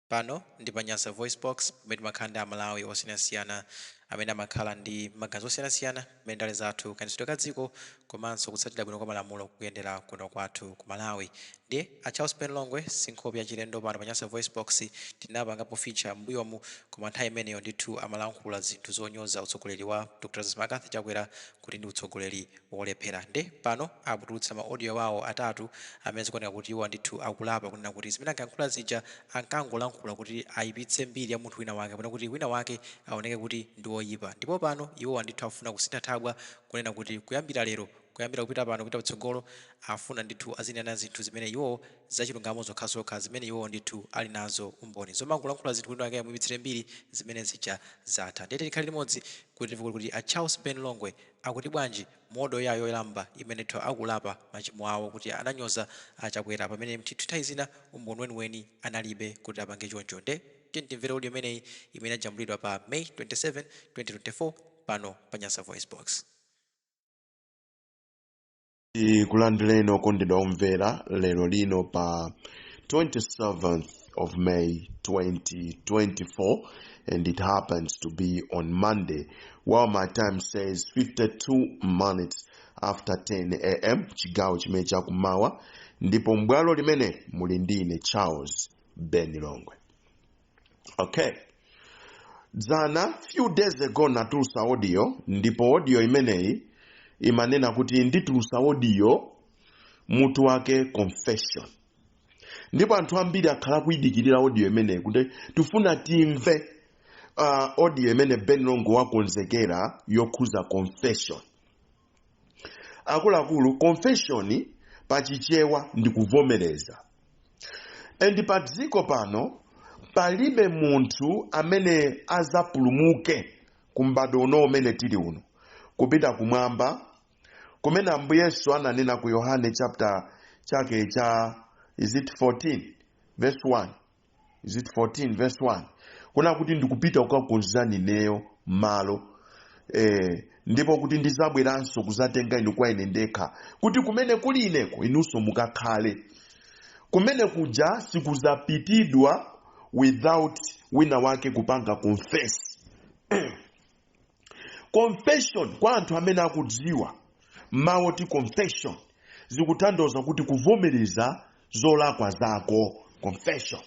Pano ndi pa Nyasa VoiceBox, pamene timakhala ndi aMalawi osiyanasiyana amene amakhala ndi maganizo osiyanasiyana mmene ndale zathu, kayendetsedwe ka dziko komanso kutsatira bwino kwa malamulo kukuyendera kuno kwathu ku Malawi. Ndiye a Charles Ben Longwe si nkhope yachilendo pano pa Nyasa VoiceBox. Tinapangapo feature m'mbuyomu, koma nthawi imeneyo ndithu amalankhula zinthu zonyoza utsogoleri wa Dr Lazarus McCarthy Chakwera kuti ndi utsogoleri wolephera nde pano atulutsa ma audio awo atatu amene zikuoneka kuti iwowa ndithu akulapa kunena kuti zimene ankayankhula zija ankangolankhula kuti ayipitse mbiri ya munthu wina wake kapena kuti wina wake aoneke kuti ndi oyipa ndipo pano iwowa ndithu akufuna kusintha thabwa kunena kuti kuyambira lero kuyambira kupita pano kupita kutsogolo afuna ndithu azinena zinthu zimene iwowo zachilungamo zokhazokha zimene iwowo ndithu ali nazo umboni zomangolankhula zinthu wina wake amuyipitsire mbiri zimene zija zatha ndiye tikhale limodzi kuti timve kuti kodi a Charles Ben Longwe Akuti bwanji mu audio yawo yoyamba imene ndithu akulapa machimo awo kuti ananyoza a chakwera pamene ndithu nthawi zina umboni weniweni analibe kuti apange choncho nde tiyeni timvere audio imeneyi imene ajambulidwa pa may 27 2024 pano pa Nyasa VoiceBox. tikulandireni okondedwa omvera lero lino pa 27th of may 2024 and it happens to be on monday while my time says 52 minutes after 10 am chigawo chimene chakumawa ndipo m'bwalo limene muli ndine charles ben longwe okay dzana few days ago natulusa audio ndipo audio imeneyi imanena kuti nditulusa audio mutu wake confession ndipo anthu ambiri akhala kuyidikirira audio imeneyi kuti tifuna timve uh, audio imene ben longwe wakonzekera yokhuza confession akuluakulu confession pa chichewa ndi kuvomereza and pa dziko pano palibe munthu amene azapulumuke ku m'bado uno umene tili uno kupita kumwamba kumene ambuye yesu ananena ku yohane chapter chake cha is it 14 verse 1 is it 14 verse 1 kunena kuti ndikupita kukakonzani ineyo malo eh, ndipo kuti ndizabweranso kuzatenga inu kwa ine ndekha kuti kumene kuli ineko inunso mukakhale kumene kuja sikuzapitidwa without wina wake kupanga confess confession kwa anthu amene akudziwa mawu oti confession zikutanthauza kuti kuvomereza zolakwa zako confession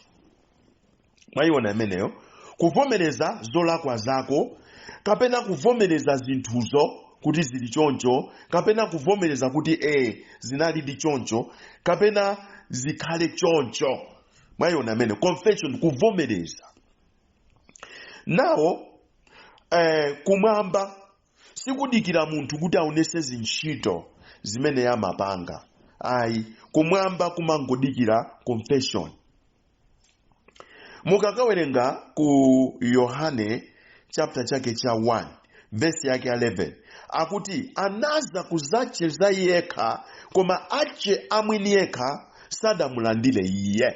mwayiona imeneyo kuvomereza zolakwa zako kapena kuvomereza zinthuzo kuti zili choncho kapena kuvomereza kuti e zinalidi choncho kapena zikhale choncho mwayiona imeneyo confession kuvomereza nawo kumwamba sikudikira munthu kuti aonese zintchito zimene yamapanga ayi kumwamba kumangodikira confession mukakawerenga ku yohane chapter chake cha 1 vesi yake 11 akuti anaza ku zache za iye yekha koma ache amwini yekha sadamulandire iye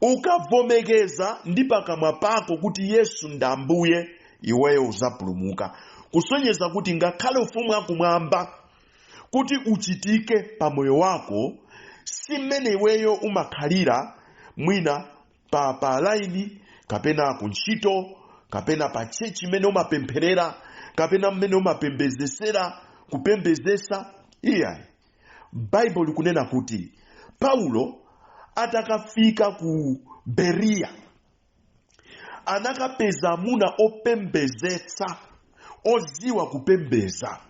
ukavomereza ndi pakamwa pako kuti yesu ndi ambuye iweyo uzapulumuka kusonyeza kuti ngakhale ufumu wakumwamba kuti uchitike pa moyo wako si mmene iweyo umakhalira mwina pa pa laini kapena ku ntchito kapena pa tchetchi mmene umapempherera kapena mmene umapembezesera kupembezesa iyayi baibulo likunena kuti paulo atakafika ku beriya anakapeza amuna opembezetsa odziwa kupembeza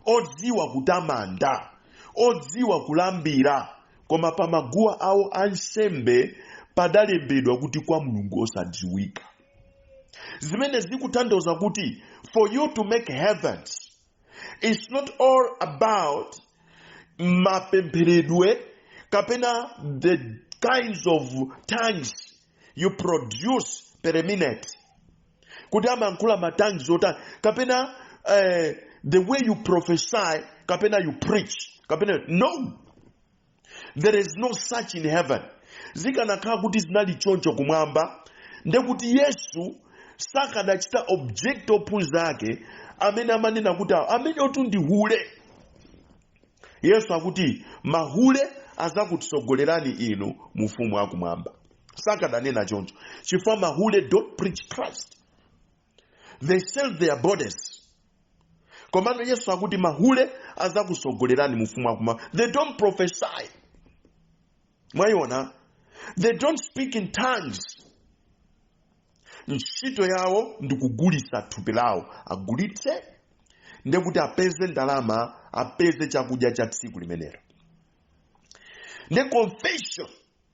odziwa kutamanda odziwa kulambira koma pa maguwa awo ansembe padalembedwa kuti kwa mulungu osadziwika zimene zikutanthauza kuti for you to make heavens it's not all about mapempheredwe kapena the kinds of tongues you produce per minute kuti amayankhula ma tongues otani kapena eh, the way you prophesy kapena you preach kapena no there is no such in heaven zikanakhala kuti zinali choncho kumwamba ndekuti yesu sakanachita object ophunzira ake amene amanena kuti awo ameneotu ndi hule yesu akuti mahule azakusogolerani inu mu ufumu wakumwamba sakananena choncho chifukwa mahule don't preach christ they sell their bodies komano yesu akuti mahule azakusogolerani mu ufumu wakuma they don't prophesy mwayiona they don't speak in tongues ntchito yawo ndi kugulitsa thupi lawo agulitse ndekuti apeze ndalama apeze chakudya cha tsiku limenelo nde confession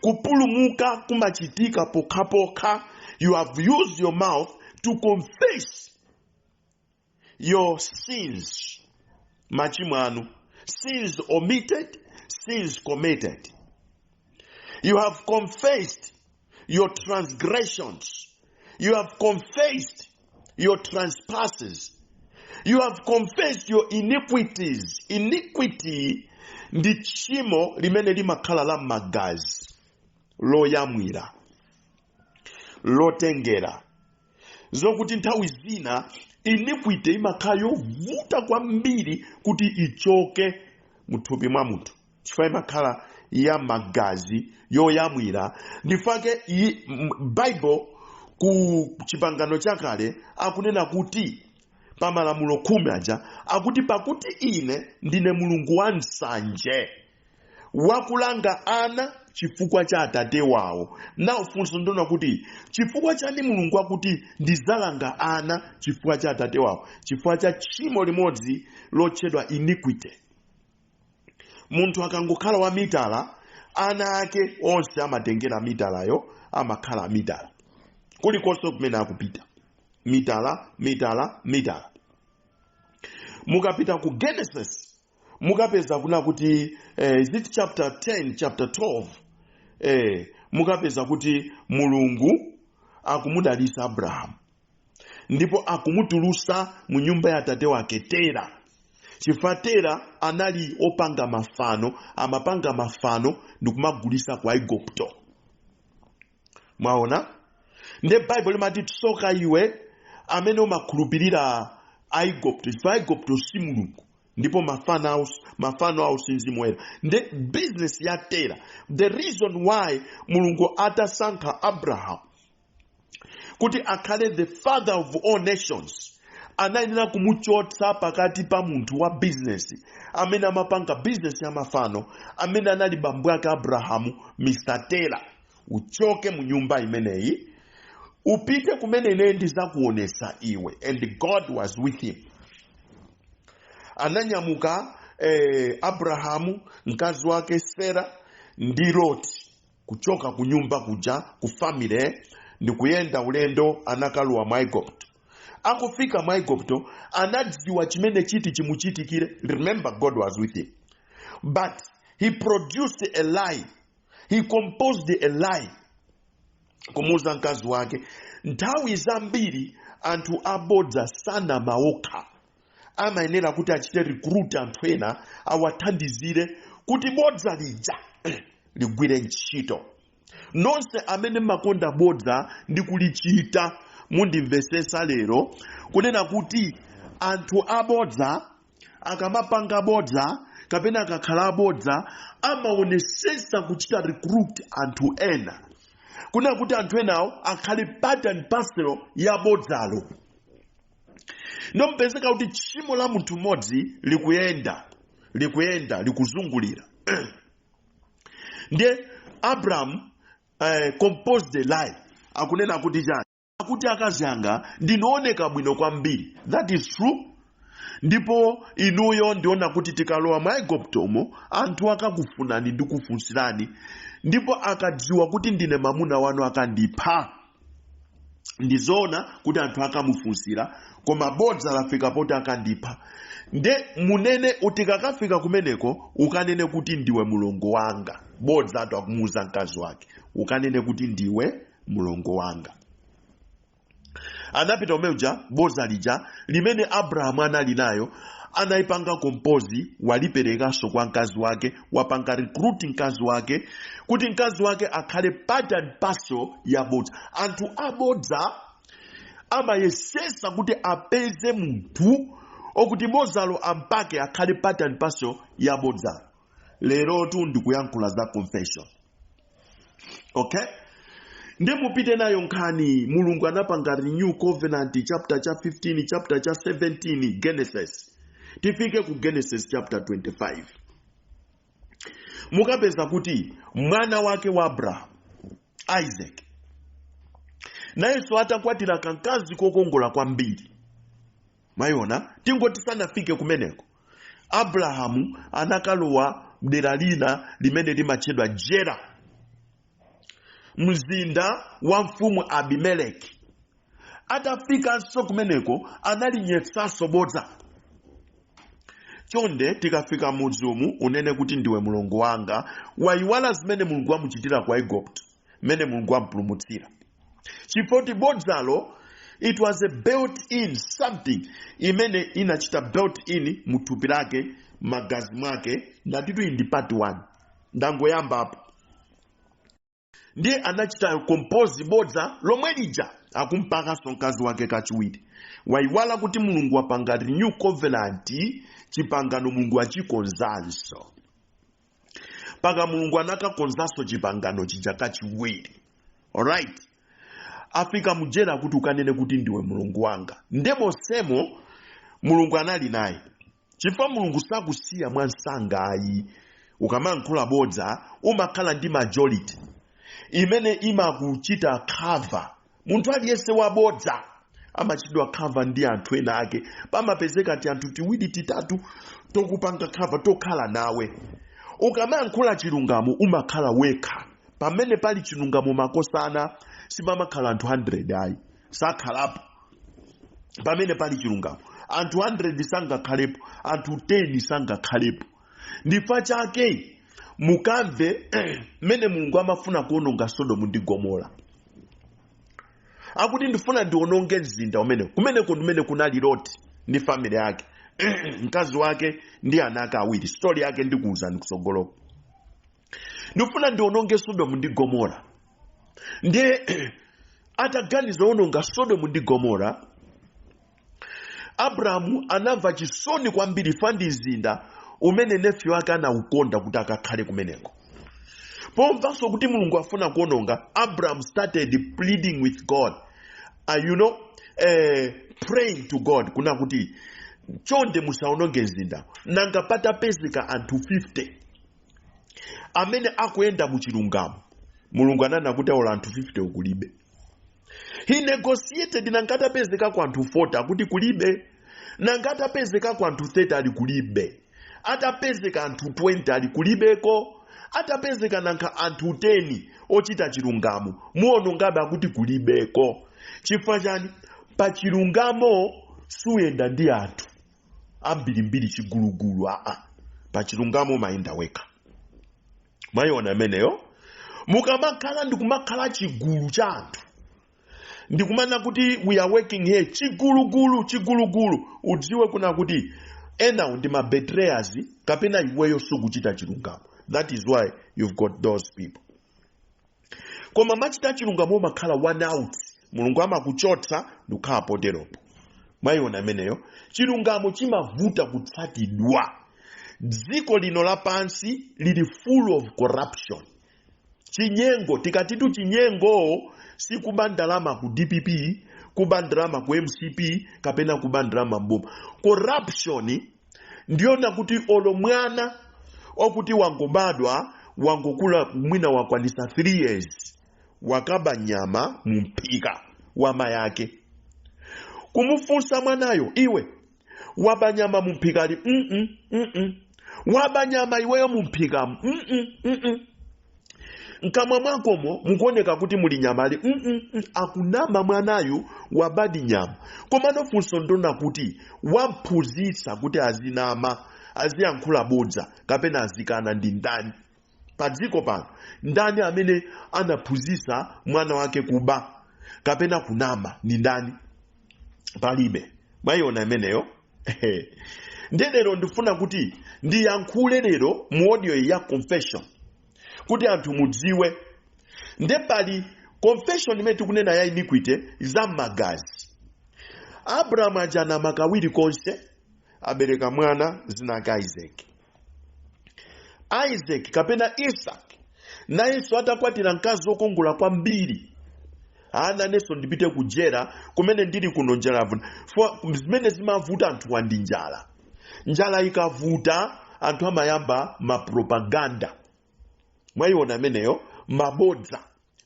kupulumuka kumachitika pokhapokha you have used your mouth to confess your sins machimo anu sins omitted sins committed you have confessed your transgressions. You have confessed your trespasses. You have confessed your iniquities. Iniquity ndi tchimo limene limakhala la m'magazi loyamwira lotengera zokuti nthawi zina iniquity imakhala yovuta kwambiri kuti ichoke muthupi mwa munthu chifukwa imakhala ya magazi yoyamwira ndi chifukwa chake iyi- m- bible ku chipangano chakale akunena kuti pa malamulo khumi aja akuti pakuti ine ndine mulungu wa nsanje wakulanga ana chifukwa cha atate wawo now funso ndi lonena kuti chifukwa chani mulungu akuti ndizalanga ana chifukwa cha atate wawo chifukwa cha tchimo limodzi lotchedwa iniquity munthu akangokhala wa mitala ana ake onse amatengera mitalayo amakhala amitala kulikonse kumene akupita mitala mitala mitala mukapita ku genesis mukapeza kunena kuti eh, is it chapter 10 chapter 12 eh, mukapeza kuti mulungu akumudalisa abrahamu ndipo akumutulusa mu nyumba ya atate wake tera chifukwa tera anali opanga mafano amapanga mafano ndikumagulisa ku aigupto mwaona nde baibulo limati tsoka iwe amene umakhulupirira aigupto chifukwa aigupto si mulungu ndipo mafano awo si mzimu woyera nde bizinesi ya tera the reason why mulungu atasankha abrahamu kuti akhale the father of all nations anayenera kumuchotsa pakati pa munthu wa bizinesi amene amapanga bizinesi ya mafano amene anali bambo ake abrahamu mr tera uchoke mu nyumba imeneyi upite kumene ine ndizakuonesa iwe and god was with him ananyamuka eh, abrahamu mkazi wake sera ndi loti kuchoka ku nyumba kuja ku family ndikuyenda ulendo anakalowa mu aigupto akufika mu aigupto anadziwa chimene chiti chimuchitikire remember god was with him but he produced a lie he composed a lie kumuuza mkazi wake nthawi zambiri anthu abodza sanama okha amayenera kuti achite recruit anthu ena awathandizire kuti bodza lija ligwire ntchito nonse amene mmakonda bodza ndi kulichita mundimvesesa lero kunena kuti anthu abodza akamapanga bodza kapena akakhala abodza amaonesesa kuchita recruit anthu ena kunena kuti anthu enawo akhale part and parcel ya bodzalo nkupezeka kuti tchimo la munthu mmodzi likuyenda likuyenda likuzungulira ndiye abrahamu eh, composed a lie akunena kuti chani kuti akazi anga ndinooneka bwino kwambiri that is true ndipo inuyo ndiona kuti tikalowa mwa iguptomo anthu akakufunani ndi kufunsirani ndipo akadziwa kuti ndine mamuna wanu akandipha ndizoona kuti anthu akamufunsira koma bodza lafika poti akandipha nde munene utikakafika kumeneko ukanene kuti ndiwe mulongo wanga bodza atu akumuuza mkazi wake ukanene kuti ndiwe mlongo wanga anapita umeuja bodza lija limene abrahamu anali nayo anayipanga compose waliperekanso kwa mkazi wake wapanga recruit mkazi wake kuti mkazi wake akhale part and parcel ya bodza anthu abodza amayesesa kuti apeze munthu okuti bodzalo ampake akhale part and parcel ya bodza lerotu ndikuyankhula za confession okay nde mupite nayo nkhani mulungu anapanga renew covenant chapter cha 15 chapter cha 17 genesis tifike ku genesis chapter 25 mukapeza kuti mwana wake wa abrahamu isaac nayenso atakwatira kankazi kokongola kwambiri mwayiona tingoti sanafike kumeneko abrahamu anakalowa mdera lina limene limatchedwa gera mzinda wa mfumu abimeleki atafikanso kumeneko analinyetsanso bodza chonde tikafika mudzi umu unene kuti ndiwe mlongo wanga wayiwala zimene mulungu wamuchitira kwa igupto mmene mulungu wamupulumutsira chifoti bodzalo it was a built in something imene inachita built in muthupi lake magazi mwake ndatitu iyi ndi part 1 ndangoyamba apo ndiye anachita compose bodza lomwe lija akumpakanso mkazi wake kachiwiri waiwala kuti mulungu wapanga renew covenant chipangano mulungu achikonzanso mpaka mulungu anakakonzanso chipangano chija kachiwiri alright afika mujera kuti ukanene kuti ndiwe mulungu wanga nde monsemo mulungu anali naye chifukwa mulungu sakusiya mwamsanga ayi ukamankhula bodza umakhala ndi majority imene imakuchita cover munthu aliyense wabodza amachitidwa cover ndi anthu ena ake pamapezeka ti anthu tiwiri titatu tokupanga cover tokhala nawe ukamayankhula chilungamo umakhala wekha pamene pali chilungamo makosana sipamakhala anthu 100 ayi sakhalapo pamene pali chilungamo anthu 100 sangakhalepo anthu 10 sangakhalepo ndifa chake mukamve mmene mulungu amafuna kuononga sodomu ndi gomora akuti ndifuna ndiononge mzinda umenewu kumeneko ndimene kunali loti ndi family yake mkazi wake ndi ana ake awiri story yake ndikuwuzani kutsogoloko ndifuna ndiononge sodomu ndi gomora ndiye ataganiza ononga sodomu ndi gomora abrahamu anamva chisoni kwambiri fa ndi mzinda umene nephew wake anaukonda kuti akakhale kumeneko pomvanso kuti mulungu afuna kuononga abraham started pleading with god uh, you know eh, praying to god kuna kuti chonde musaononge mzinda nanga patapezeka anthu 50 amene akuyenda mu chilungamo mulungu ananena kuti ola anthu 50 ukulibe he negotiated nanga atapezekako anthu 40 akuti kulibe nanga atapezekako anthu 30 ali kulibe atapezeka anthu 20 ali kulibeko atapezeka nanga anthu 10 ochita chilungamo muonongabe akuti kulibeko chifukwa chani pa chilungamo suyenda ndi anthu ambirimbiri chigulugulu aa pa chilungamo umayenda wekha mwayiona ameneyo mukamakhala ndikumakhala chigulu cha anthu ndikumana kuti we are working here chigulugulu chigulugulu udziwe kuna kuti enawo ndi ma betrayers kapena iweyo sukuchita chilungamo that is why you've got those people koma machita chilungamo umakhala one out mulungu amakuchotsa ndikukhala poteropo mwayiona ameneyo chilungamo chimavuta kutsatidwa dziko lino lapansi lili full of corruption chinyengo tikatitu chinyengo sikuba ndalama ku dpp kuba ndalama ku mcp kapena kuba ndalama mboma corruption ndi yona kuti olo mwana okuti wangobadwa wangokula mwina wakwanisa 3 years wakaba nyama mumphika wa mayake kumufunsa mwanayo iwe waba nyama mumphikali mm -mm, mm -mm. waba nyama iweyo mumphikamu mm -mm, mm -mm. mkamwa mwakomo mukuoneka kuti muli nyamali mm -mm, mm, akunama mwanayu wabadi nyama komano funso ndi ona kuti wamphunzitsa kuti azinama aziyankhula bodza kapena azikana ndi ndani pa dziko pano ndani amene anaphunzitsa mwana wake kuba kapena kunama ndi ndani palibe mwayiona imeneyo Ehe. ndiye lero ndifuna kuti ndiyankhule lero mu audio iyi ya confession kuti anthu mudziwe nde pali confession imene tikunena ya iniquity za mmagazi abrahamu uja anama kawiri konse abereka mwana dzina lake isaki isaki kapena isaki nayenso atakwatira mkazi wokongola kwambiri anena nayenso ndipite ku Gera kumene ndili kuno njala yavuta Fo- zimene zimavuta anthuwa ndi njala njala ikavuta anthu amayamba mapropaganda mwayiona ameneyo mabodza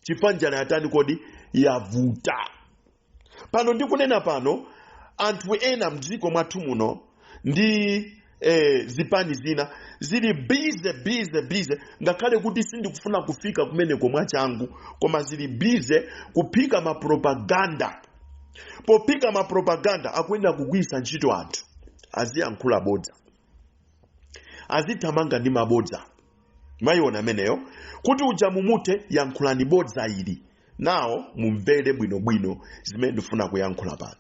chifukwa njala yatani kodi yavuta pano ndikunena pano anthu ena mdziko mwathu muno ndi eh, zipani zina zili bize bize bize ngakhale kuti sindikufuna kufika kumeneko mwachangu koma zili bize kuphika mapropaganda pophika mapropaganda akuyenera kugwiritsa ntchito anthu aziyankhula bodza azithamanga ndi mabodza mwayiona ameneyo kuti uja mumuthe yankhulani bodza ili nawo mumvere bwinobwino zimene ndifuna kuyankhula pano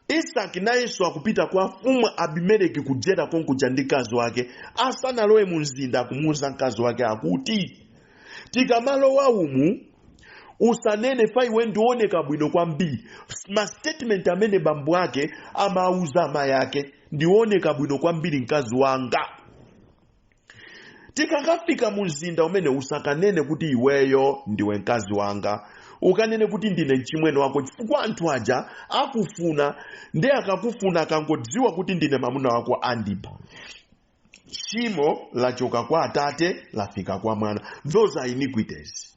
isaki nayenso akupita kwa mfumu abimeleki ku Gera konkuja ndi mkazi wake asanalowe mu mzinda akumuwuza mkazi wake akuti tikamalowa umu usanene chifukwa iwe ndiwe wooneka bwino kwambiri ma statement amene bambo ake amauza amayi ake ndiwe wooneka bwino kwambiri mkazi wanga tikakafika mu mzinda umenewu usakanene kuti iweyo ndiwe mkazi wanga ukanene kuti ndine mchimwene wako chifukwa anthu aja akufuna ndi akakufuna akangodziwa kuti ndine mamuna wako andipha tchimo lachoka kwa atate lafika kwa mwana those are iniquities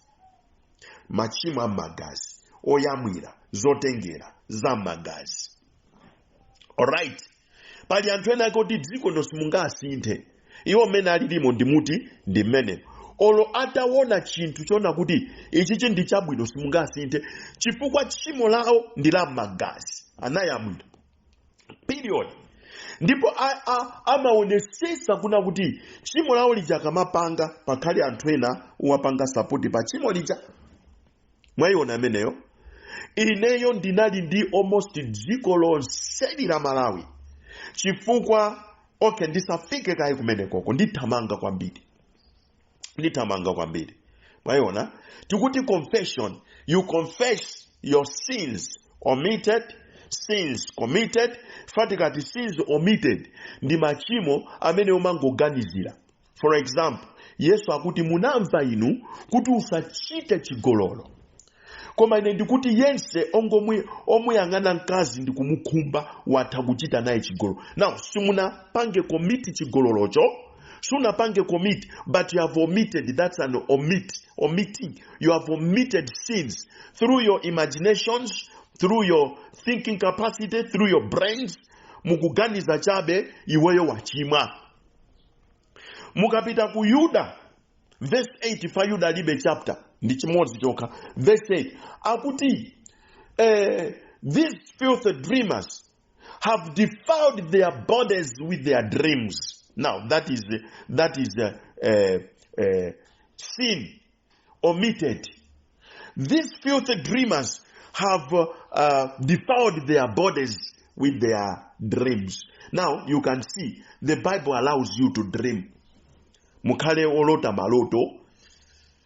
machimo a mmagazi oyamwira zotengera za mmagazi alright pali anthu ena ake oti dziko ino simungawasinthe iwo mmene alilimo ndi muti ndi mmene olo ataona chinthu chona kuti ichichi ndi chabwino simungawasinthe chifukwa tchimo lawo ndi la mmagazi anayamwira period ndipo a- a- amaonesesa kunena kuti tchimo lawo lija akamapanga pakhale anthu ena owapanga support pa tchimo lija mwayiona ameneyo ineyo ndinali ndi almost dziko lonseli la malawi chifukwa okay ndisafike kaye kumenekoko ndithamanga kwambiri ndithamanga kwambiri mwayiona tikuti confession you confess your sins omitted sins committed ifa tikati sins omitted ndi machimo amene umangoganizira for example yesu akuti munamva inu kuti usachite chigololo koma ine ndikuti yense ongo omuyang'ana mkazi ndi kumukhumba watha kuchita naye chigololo now simunapange commit chigololocho sunapange commit but you have omitted that's an omit omitting you have omitted sins through your imaginations through your thinking capacity through your brains mukuganiza chabe iweyo wachimwa mukapita ku yuda verse 8 ifa yuda alibe chapter ndi chimodzi chokha verse 8 akuti eh, these filthy dreamers have defiled their bodies with their dreams now that is that is uh, uh, uh, sin omitted. These filthy dreamers have uh, uh, defiled their bodies with their dreams. Now you can see the Bible allows you to dream. Mukhale olota maloto,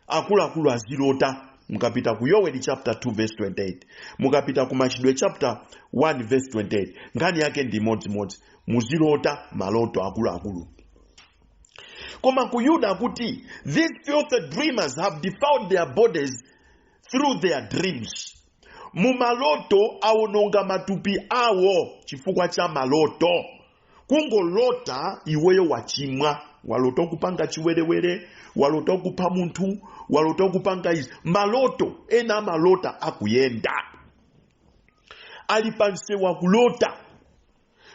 akuluakulu azilota mukapita ku yoweli chapter 2 verse 28 mukapita ku machitidwe chapter 1 verse 28 nkhani yake ndi imodzimodzi muzilota maloto akuluakulu koma ku yuda akuti these filthy dreamers have defiled their bodies through their dreams mumaloto awononga matupi awo chifukwa cha maloto kungolota iweyo wachimwa walota kupanga chiwerewere walota kupha munthu walota kupanga izi maloto ena amalota akuyenda ali pansewu akulota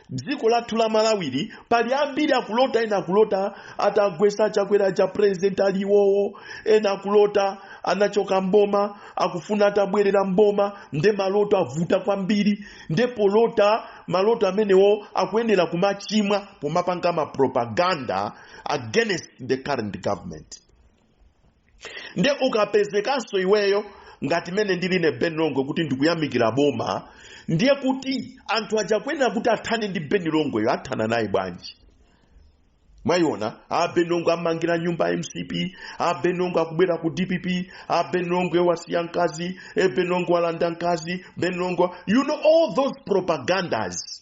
dziko lathu la malawili pali ambiri akulota ena akulota atagwesa achakwera a president aliwowo ena akulota anachoka mboma akufuna atabwerera mboma nde maloto avuta kwambiri nde polota maloto amenewo akuyenera kumachimwa pomapanga mapropaganda against the current government nde ukapezekanso iweyo ngati mene ndili ine ben longwe kuti ndikuyamikira boma ndiye kuti anthu aja kuyenera kuti athane ndi ben longweyo athana naye bwanji mwayiona a ben longwe amangira nyumba ya mcp a ben longwe akubwera ku dpp a ben longwe wasiya mkazi a ben longwe walanda mkazi ben longwe you know all those propagandas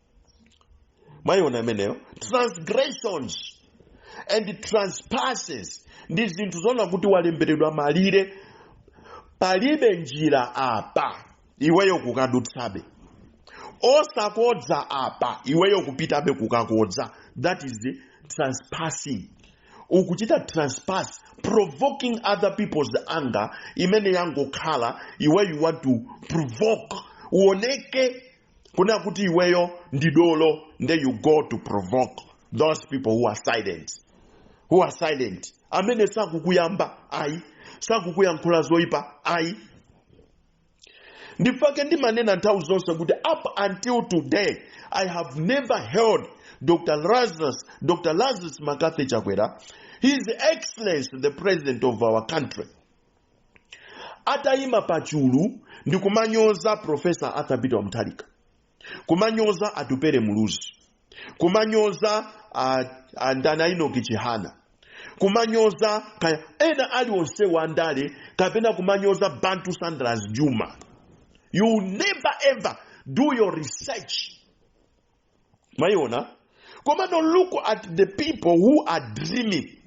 mwayiona imeneyo transgressions and trespasses ndi zinthu zoona kuti walemberedwa malire palibe njira apa iweyo kukadutsabe osakodza apa iweyo kupitabe kukakodza that is the trespassing ukuchita trespass provoking other people's anger imene yangokhala iwe you want to provoke uoneke kunena kuti iweyo ndi dolo nde you go to provoke those people who are silent who are silent amene sakukuyamba ayi sakukuyankhula zoyipa ayi ndifake ndimanena nthawi zonse kuti up until today i have never heard dr lazarus mccarthy chakwera his excellency the president of our country atayima pa chulu ndi kumanyoza profesa arthur peter mutharika kumanyoza atupere muluzi kumanyoza ah, ah, ndana enock chihana kumanyoza kaya ena aliwonse wandale kapena kumanyoza bantu saunders jumah you never ever do your research mwayiona komano look at the people who are dreaming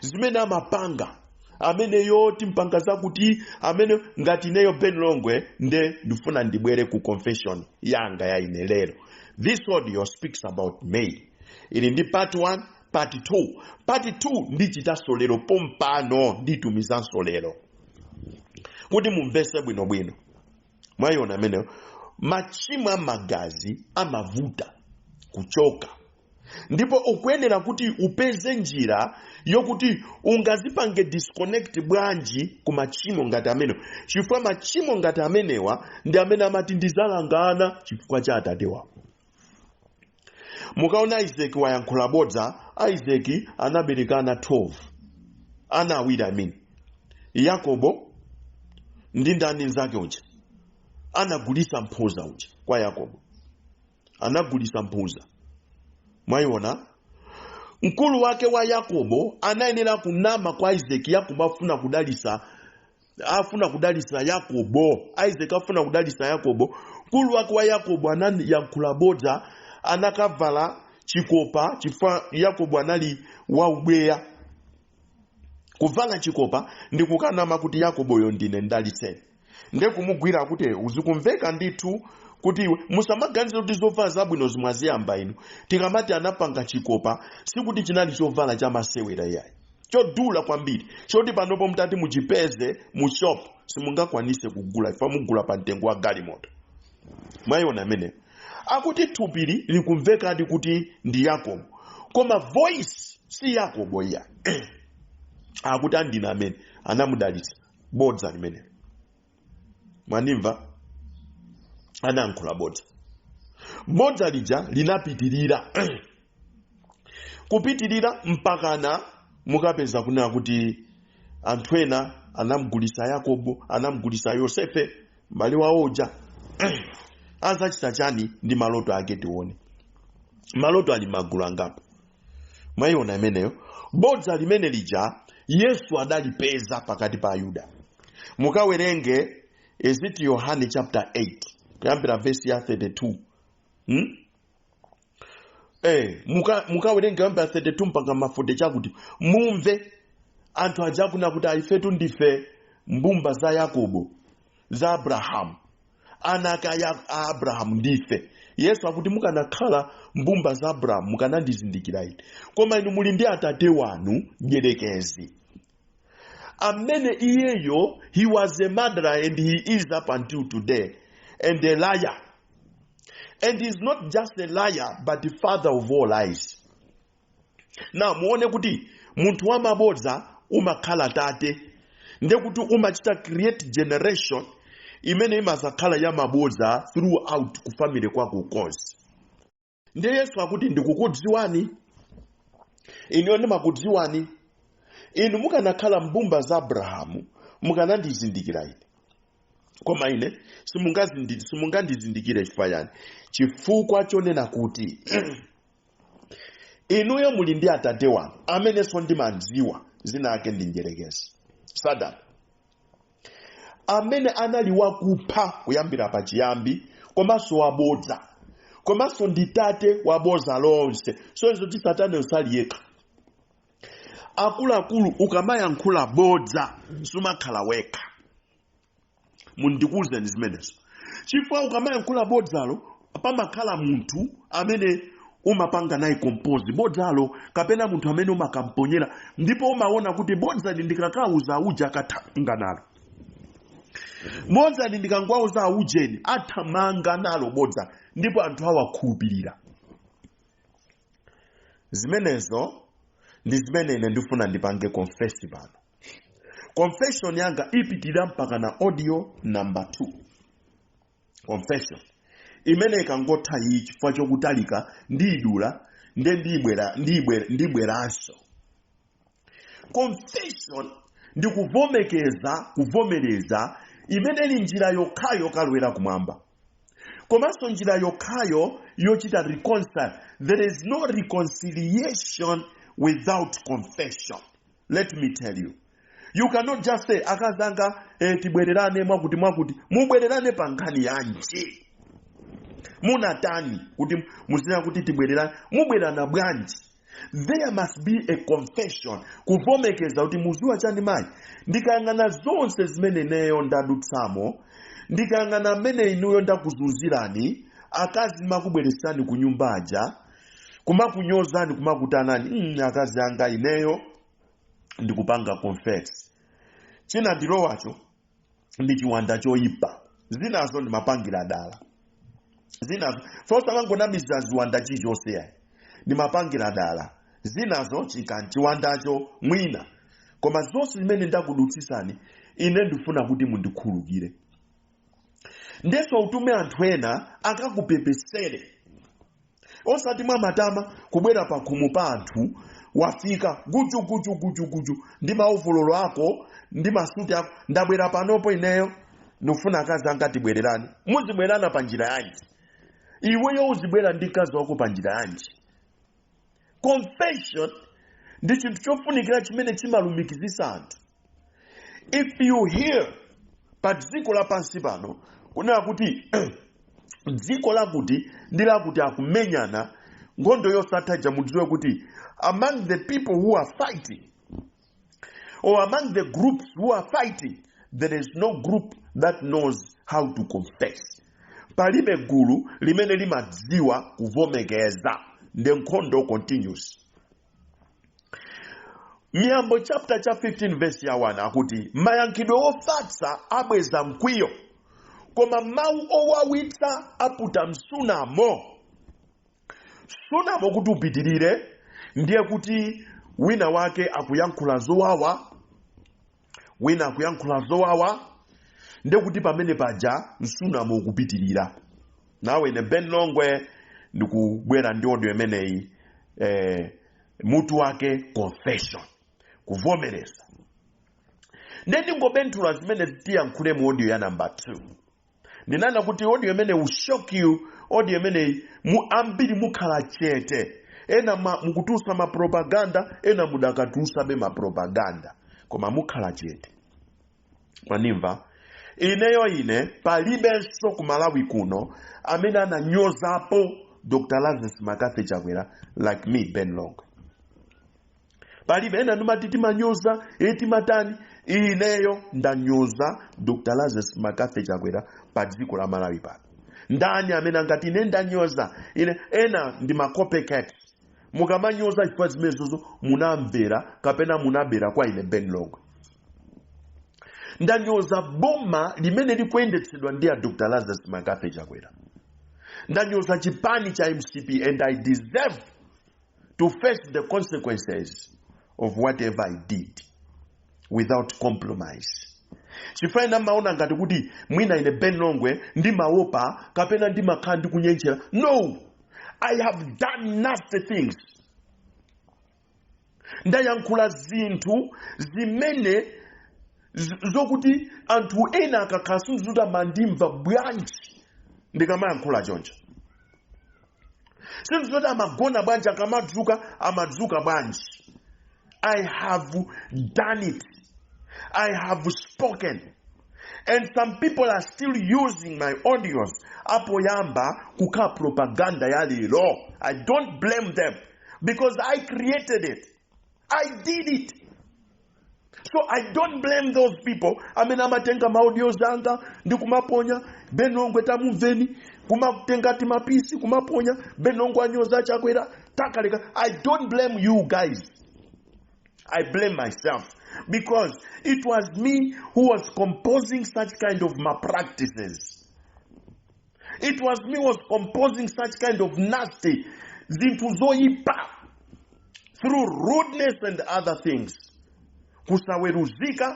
zimene amapanga amene eti mpanga zakuti amene ngati ineyo ben longwe nde ndifuna ndibwere ku confession yanga ya ine lero this audio speaks about me ili ndi part 1 part 2 part 2 ndichitanso lero pompano nditumizanso lero kuti mumvese bwinobwino mwayiona amenewo machimo a magazi amavuta kuchoka ndipo ukuyenera kuti upeze njira yokuti ungazipange disconnect bwanji ku machimo ngati amenewa chifukwa machimo ngati amenewa ndi amene amati ndizalanga ana chifukwa cha atate wawo mukaona isaki wayankhula bodza isaki anabereka ana 12 ana awiri amene yakobo ndi ndani nzake uja anagulisa mphuza uja kwa yakobo anagulisa mphuza mwayiona mkulu wake wa yakobo anayenera kunama kwa isaki yakobo afuna kudalisa afuna kudalitsa yakobo isaac afuna kudalitsa yakobo mkulu wake wa yakobo anayankhula bodza anakavala chikopa chifukwa yakobo anali waubweya kuvala chikopa ndi kukanama kuti yakoboyo ndine ndalitseni nde kumugwira kuti ukumveka ndithu kuti iwe musamaganize kuti zovala zabwino zi mwaziyamba inu tikamati anapanga chikopa sikuti chinali chovala chamasewera iyayi chodula kwambiri choti panopo mutati muchipeze mu shop simungakwanise kugula ifa mugula pa mtengo wa galimoto mwayiona imeneyo akuti thupili likumvekadi kuti ndi yakobo koma voice si yakobo iyayi akuti andina amene anamudalitsa bodza limenelo mwandimva anayankhula bodza bodza lija linapitirira kupitirira mpakana mukapeza kunena kuti anthu ena anamgulisa yakobo anamgulisa yosefe mbale wawo uja azachita chani ndi maloto ake tione maloto ali magulu angapo mwayiona imeneyo bodza limene lija yesu adalipeza pakati pa ayuda mukawerenge is it yohane chapter 8 kuyambira vesi ya 32 hmm? eh, muka- mukawerenge kuyambira 32 mpaka ma forty chakuti mumve anthu aja akunena kuti ifetu ndife mbumba za yakobo za abrahamu ana ake a a abrahamu ndife yesu akuti mukanakhala mbumba za abrahamu mukanandizindikira ine koma inu muli ndi atate wanu mdyerekezi amene iyeyo he was a murderer and he is up until today and a liar and he is not just a liar but the father of all lies now muone kuti munthu wa mabodza umakhala tate nde kuti umachita create generation imene imazakhala ya mabodza throughout ku family kwako konse nde yesu akuti ndikukudziwani ineyo ndimakudziwani inu mukanakhala mbumba za abrahamu mukanandizindikira ine koma ine simungazindi- simungandizindikire chifukwa yani chifukwa chonena kuti inuyo muli ndi atate wanu amenenso ndimawadziwa dzina lake ndi mdyerekezi satana amene anali wakupha kuyambira pachiyambi komanso wabodza komanso ndi tate wabodza lonse zosonyeza kuti satana sali yekha akuluakulu ukamayankhula bodza sumakhala wekha mundikuuzeni zimenezo chifukwa ukamayankhula bodzalo pamakhala munthu amene umapanga naye compose bodzalo kapena munthu amene umakamponyera ndipo umaona kuti bodzali ndikakauza auja akathamanga nalo bodzali ndikangwauza aujeni athamanga nalo bodza ndipo anthu awakhulupirira zimenezo ndi zimene ine ndifuna ndipange confess pano confession yanga ipitirira mpaka na audio number 2 confession imene ikangotha iyi chifukwa chokutalika ndiyidula nde ndibweranso confession ndi kuvomekeza kuvomereza imene ili njira yokhayo yokalowera kumwamba komanso njira yokhayo yochita reconcile there is no reconciliation without confession let me tell you you cannot just say akazi anga eh, tibwererane mwakuti mwakuti mubwererane pa nkhani yanji munatani kuti muzinena kuti tibwererane mubwererana bwanji there must be a confession kuvomekeza kuti muziwa chani mayi ndikayang'ana zonse zimene ineyo ndadutsamo ndikayang'ana mmene inuyo ndakuzunzirani akazi ndimakubweresani ku nyumba aja kumakunyozani kumakutanani mm, akazi anga ineyo ndikupanga confess chinandilowacho ndi chiwanda choyipa zinazo ndimapangira dala zinazo osamangonamizira ziwanda chilichonse yayi ndimapangira dala zinazo chikani chiwandacho mwina koma zonse zimene ndakudutsisani ine ndifuna kuti mundikhulukire ndenso utume anthu ena akakupepesere osati mwamatama kubwera pakhomo pa anthu wafika guju guju guju guju ndi maovololo ako ndi masuti ako ndabwera panopo ineyo ndifuna akazi anga tibwererane muzibwerana pa njira yanji iweyo uzibwera ndi mkazi wako pa njira yanji confession ndi chinthu chofunikira chimene chimalumikizisa anthu if you hear pa dziko lapansi pano kunena kuti dziko lakuti ndi lakuti akumenyana nkhondo yosatha ija mudziwe kuti among the people who are fighting or among the groups who are fighting there is no group that knows how to confess palibe gulu limene limadziwa kuvomekeza nde nkhondo continues miyambo chaputala cha 15 verse ya 1 akuti mayankhidwe ofatsa abweza mkwiyo koma mawu owawitsa aputa msunamo msunamo kuti upitirire ndiye kuti wina wake akuyankhula zowawa wina akuyankhula zowawa ndekuti pamene paja msunamo ukupitirira nane ine ben longwe ndikubwera ndi audio imeneyi mutu wake confession kuvomereza nde ndingobenthula zimene tiyankhule mu audio ya namba 2 ndinanena kuti audio imene will shock you audio imene ambiri mukhala chete ena mukutulutsa mapropaganda ena mudakatulutsabe mapropaganda koma mukhala chete mwanimva ineyo ine palibenso ku malawi kuno amene ananyozapo dr lazarus mccarthy chakwera like me ben longwe palibe ena mumati timanyoza e timatani ineyo ndanyoza dr lazarus mccarthy chakwera pa dziko la malawi pano ndani amene angati ine ndanyoza ine ena ndi macopycat mukamanyoza chifukwa zimenezozo munamvera kapena munabera kwa ine ben longwe ndanyoza boma limene likuyendetsedwa ndi a dr lazarus mccarthy chakwera ndanyoza chipani cha mcp and i deserve to face the consequences of whatever I did without compromise. chifukwa ena amaona ngati kuti mwina ine ben longwe ndimaopa kapena ndimakhala ndikunjenjemera no i have done nasty things ndayankhula zinthu zimene zokuti anthu ena akakhala sindidziwa kuti amandimva bwanji ndikamayankhula choncho sindiziwa kuti amagona bwanji akamadzuka amadzuka bwanji i have done it i have spoken and some people are still using my audios apoyamba kukhala propaganda ya lero i don't blame them because i created it i did it so i don't blame those people amene amatenga maaudio zanga ndi kumaponya ben longwe tamumveni kumatenga timapisi kumaponya ben longwe anyoza chakwera takaleka i don't blame you guys I blame myself because it was me who was composing such kind of malpractices. it was me who was composing such kind of nasty zinthu zoyipa through rudeness and other things kusaweruzika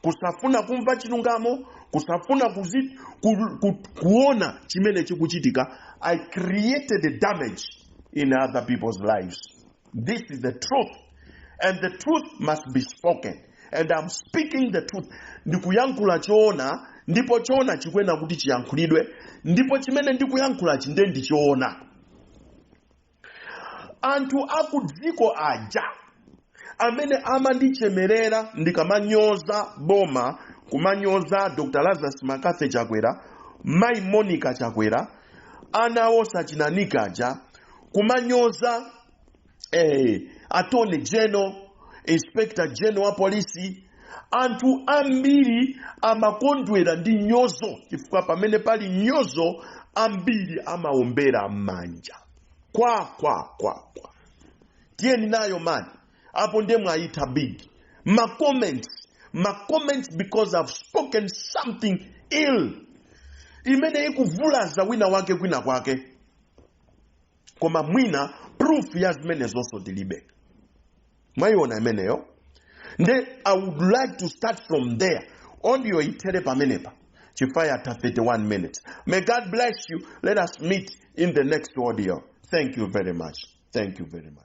kusafuna kumva chilungamo kusafuna kuona chimene chikuchitika i created the damage in other people's lives This is the truth. And the truth must be spoken. And I'm speaking the truth. Ndikuyankhula choona ndipo choona chikuyenera kuti chiyankhulidwe ndipo chimene ndikuyankhulachi ndiye ndi choona. Anthu akudziko aja amene amandichemerera ndikamanyoza boma kumanyoza Dr. Lazarus McCarthy Chakwera, Mai Monica Chakwera, ana awo sachinanika aja kumanyoza eh, attorney general inspector general wa polisi anthu ambiri amakondwera ndi nyozo chifukwa pamene pali nyozo ambiri amaombera manja kwa kwa kwa kwa tiyeni nayo man apo ndiye mwayitha big ma comments ma comments because i've spoken something ill imene ikuvulaza wina wake kwina kwake koma mwina proof ya zimenezonso tilibe mwayiona imeneyo nde i would like to start from there audio ithere pamenepa chifukwa yatha 31 minutes may god bless you let us meet in the next audio thank you very much thank you very much